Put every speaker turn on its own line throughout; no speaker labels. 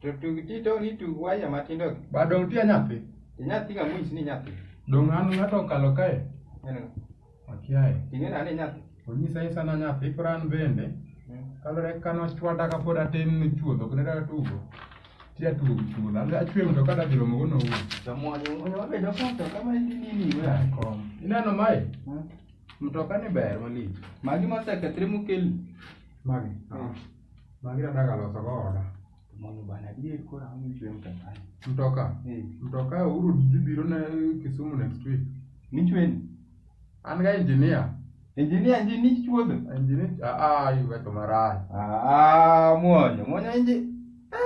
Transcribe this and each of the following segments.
To
tug ti to ni tug waya matindo gi. Ba dong tia nyathi.
Ti nyathi ga mwis
ni nyathi. Dong an ng'ato
okalo kae. Neno.
Akiaye.
Ting'e na ni nyathi.
Onyisa isa na nyathi
koro an bende. Hmm. Kalore kano chwada ka pod atin ni chuodho kendo da tugo. Ti atugo chuodho. Ala achwe mto kada bilo mogo no wuo. To mwanyo mwanyo wabedo
kom to kama ni nini wea. Kom. Ineno
mai? Hmm. Mtoka ni ber malich. Magi mosekethre
mokeli. Magi. Hmm.
Magi adaka loso go oda. Mondo bana adier
koro ang'o michwe mtoka. Mtoka.
Eh, Mtoka uru dhi biro na Kisumu next week. nichweni.
An ga
engineer. Engineer nji
nich chuodho. Engineer ah
ah iweto marach. Ah, mwonyo,
mwonyo inji.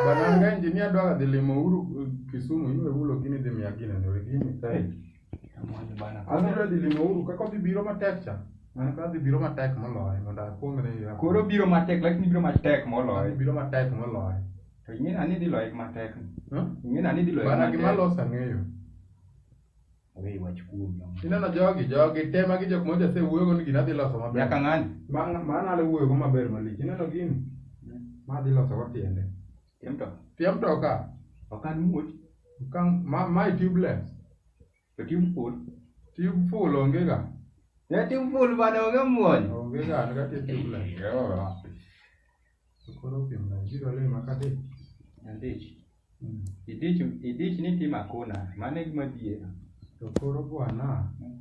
Bana an ga
engineer dwa dhi limo uru eh, Kisumu iwe ulo gini dhi miya gini ne gini. Eh,
Adwa dhi limo uru kaka
odhi biro matek cha. Mano kaka odhi biro matek moloyo mondo akwong ne ya. Koro biro matek lakini
biro matek moloyo. Biro matek moloyo.
To ing'eyo ni dhi
loye matek. Ing'eyo ni dhi loye matek. Bana gima losa ng'eyo. Owe wach kuom. Ineno jogi
jogi tema gi jok moja se wuoyo ni gina dhi loso maber. Nyaka ng'ani.
Mano ale
wuoyo go maber malich. Ineno gini. Ma dhi loso go tiende. Pia mtoka. Pia mtoka. Okan muoch.
Okan ma ma
tubeless. To tube
full. Tube full
onge ga. Ya tube full
bana onge muoch. Onge ga an ga
tubeless. Yo. Koro pia na jiro le makate. Andich.
Mm. Idich idich ni tima kona. Mane gima biera. To koro
bwana. Mm.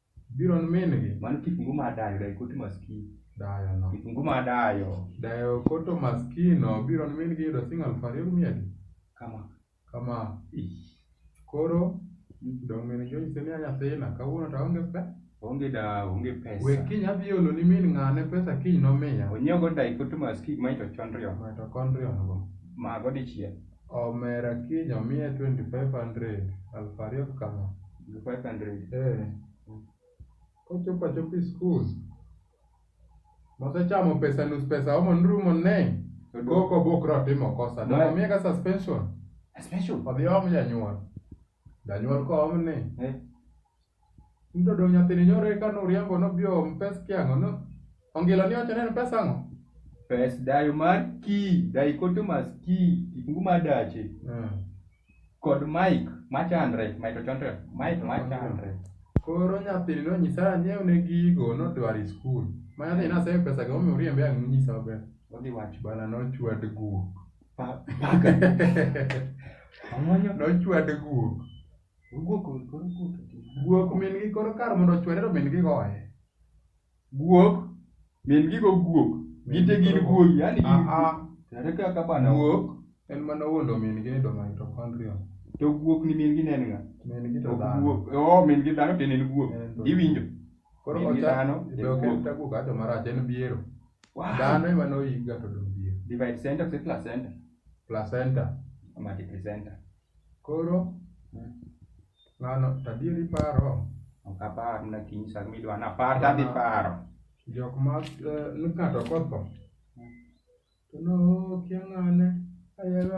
Biro ni min gi. Mano kitungu mar dayo,
dayo koto maskini. Dayo no. Kitungu
mar dayo.
Dayo koto
maskino biro ni min gi yudo sing aluf ariyo gi mia adi? Kama. Kama. Koro dong' min gi onyise ni nyathina kawuono to aonge pe. Onge da, onge
pesa. We kiny adhi olo ni
min ng'ane pesa kiny nomiya. Onyiew go dayo koto
maskini mitochondrion. Mitochondrion go.
Mago dichiel.
Omera
kiny omiya twenty five hundred aluf ariyo kama. Twenty five hundred.
Eh.
Kochopo achopo e skul. Mosechamo pesa nus pesa omo nrumo ne. Koko bokro timo kosa. Dwa- Dwa miya ka suspension. Special. Odhi
om janyuol.
Janyuol kom ni eh. Mtoto nyathini nyoro eka nuriambo nobio mpes kiang'o no ongilo ni wacho neno pesa ang'o? Pes dayo
mar ki, dichotomous ki, kifungu mar dache. Mm. Kod Mike machandre, Mike ochondre, Mike machandre. Koro nyathini
nonyisa anyiew ne gigo nodwar e skul. Ma nyathini nasemi pesa gi momiyo uriembe ang' nonyisa maber. Odhi wacho. Bana
nochwad
guok. Pa- paka. Omuonyo. Nochwade guok. Guok koro guok. Guok min gi koro kar mondo ochwade to min gi goye. Guok.
Min gi go guok. Gite gin guogi. Yani gin Ah, ah. Tere kaka bana. Guok en mana
wuondo min gi e do mitochondria. To guok ni
min gi nen nga. Min gi to
Ok dhano. guok. Oh, min gi dhano to en
en guok. En to- Iwinjo? Koro Min ocha-
dhano be ok en ekuok. takuka to marach en biero. Wow. Dhano ema noyikga to dong biero. Divide center si
placenta. Placenta.
Mati placenta.
Koro
ng'ano tadieri paro Ok apar
na kiny sa midwa na par ta dhi paro. jok ma
eh, ni ng'ato kotho to nokia ng'ane ayero